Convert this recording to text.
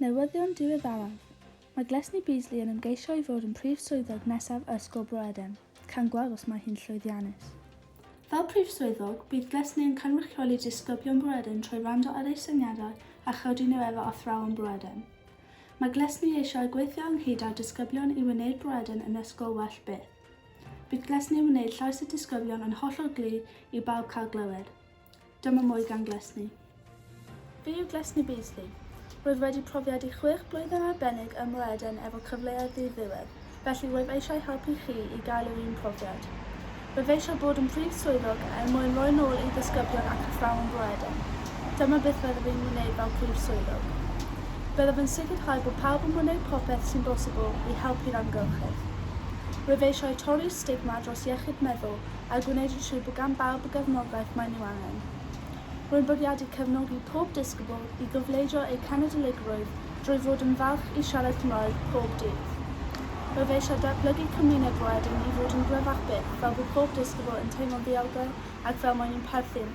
Newyddion diweddaraf, Mae Glesni Beasley yn ymgeisio i fod yn Prif Swyddog nesaf Ysgol Bro Edern. Cawn gweld os mae hi'n llwyddiannus. Fel Prif Swyddog, bydd Glesni yn cynrychioli disgyblion Bro Edern trwy wrando ar eu syniadau a chodi nhw efo athrawon Bro Edern. Mae Glesni eisiau gweithio ynghyd â disgyblion i wneud Bro Edern yn ysgol well byth. Bydglesni yn wneud llais y disgyblion yn hollol glir i bawb cael glywed. Dyma mwy gan Glesni. Be yw Glesni Beasley? Rwyf wedi profiad i chwech blwyddyn arbennig ym Mroeden efo cyfleoedd ddi-ddiwedd, felly wyf eisiau helpu chi i gael yr un profiad. Rwyf eisiau bod yn Prif Swyddog er mwyn roi nôl i ddisgyblion ac athrawon Mroeden. Dyma beth fyddaf i'n wneud fel Prif Swyddog. Byddaf yn sicrhau bod pawb yn gwneud popeth sy'n bosibl i helpu'r amgylchedd. Rwyf eisiau torri'r stigma dros iechyd meddwl a gwneud yn siŵr bod gan bawb y gefnogaeth maen nhw angen. Rwy'n bwriadu cefnogi pob disgybl i gofleidio eu cenedligrwydd drwy fod yn falch i siarad Cymraeg pob dydd. Rwyf eisiau datblygu cymuned roedyn i fod yn gryfach byth fel bod pob disgybl yn teimlo'n ddiogel ac fel maen nhw'n perthyn